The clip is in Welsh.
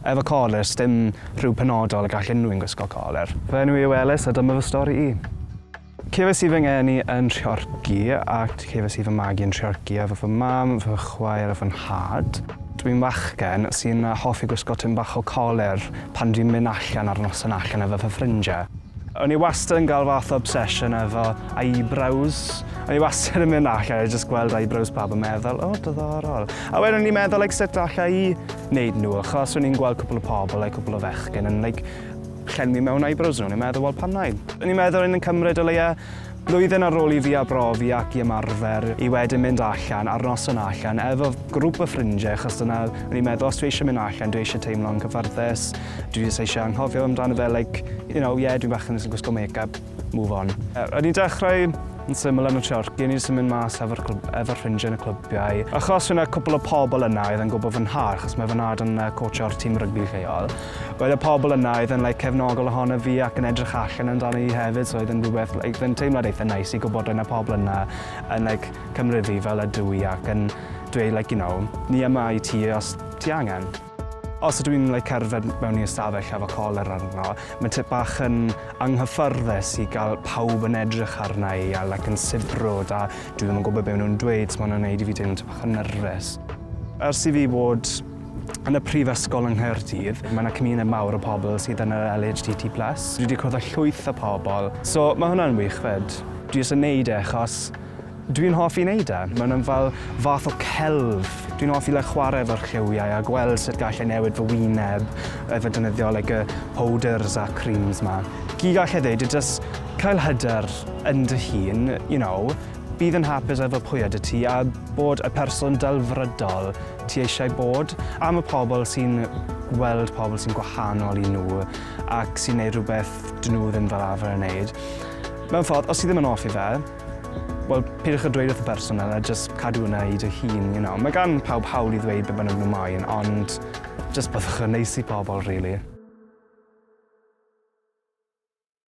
Efo colur, s'dim rhyw penodol y gall unrhywun gwisgo colur. Fy enw i yw Elis a dyma fy stori i. Cefais i fy ngeni yn Nhreorci ac cefais i fy magu yn Nhreorci efo fy mam, fy chwaer a fy nhad. Dwi'n fachgen sy'n hoffi gwisgo tym bach o colur pan dwi'n mynd allan ar noson allan efo fy ffrindiau. O'n i wastad yn gael fath o obsesiwn efo eyebrows. O'n i wastad yn mynd allan a jyst gweld eyebrows pawb a meddwl 'o, diddorol'. A wedyn o'n i'n meddwl like sut alla i neud nhw achos o'n i'n gweld cwpl o pobl like cwpl o fechgyn yn like llenwi mewn eyebrows nhw o'n i'n meddwl wel pam nai? O'n i'n meddwl o'n i'n cymryd o leia blwyddyn ar ôl i fi arbrofi ac i ymarfer i wedyn mynd allan ar noson allan efo grŵp o ffrindiau achos dyna o'n i'n meddwl os dwi eisiau mynd allan dwi eisiau teimlo'n cyfforddus dwi jyst eisiau anghofio amdano fe like you know yeah dwi'n bach yn gwisgo make up move on. O'n i'n dechrau yn syml yn y Chorci, o'n i jyst yn mynd mas efo'r efo ffrindiau yn y clybiau. Achos fe yna cwpl o pobl yna oedd yn gwybod fy nhad, achos mae fy nhad yn uh, coachio'r tîm rygbi lleol. Oedd y pobl yna oedd yn like, cefnogol ohono fi ac yn edrych allan amdano i hefyd, so oedd yn rhywbeth, like, oedd yn teimlad eitha neis nice i gwybod oedd yna pobl yna yn like, cymryd fi fel ydw i ac yn dweud, like, you know, ni yma i ti os ti angen. Os ydw i'n like cerdded mewn i ystafell efo colur arno, mae'n tip bach yn anghyffyrddus i gael pawb yn edrych arna i a like yn sibrwd a dwi ddim yn gwybod be maen nhw'n dweud, so mae hwnna'n wneud i fi teimlo'n tip bach yn nyrfys. Ers i fi bod yn y prifysgol yng Nghaerdydd, mae yna cymuned mawr o pobl sydd yn yr LHDT plus. Dwi wedi cwrdd â llwyth o pobl, so mae hwnna'n wych 'fyd. Dwi jyst yn wneud e achos Dwi'n hoffi neud e. Mae hwnna'n fel fath o celf. Dwi'n hoffi like chwarae efo'r lliwiau a gweld sut gall e newid fy wyneb efo defnyddio like y powders a creams 'ma. Gyd gall e ddeud yw jyst cael hyder yn dy hun, you know, bydd yn hapus efo pwy ydw ti a bod y person delfrydol ti eisiau bod. Am y pobl sy'n gweld pobl sy'n gwahanol i nhw ac sy'n neud rhywbeth dyn nhw ddim fel arfer yn neud. Mewn ffordd, os ti ddim yn hoffi fe, Wel, peidiwch â dweud wrth y person 'na a jyst cadw hwnna i dy hun, you know. Mae gan pawb hawl i ddweud be' bynnag nhw moyn, ond jyst byddwch yn neis i pobl, rili.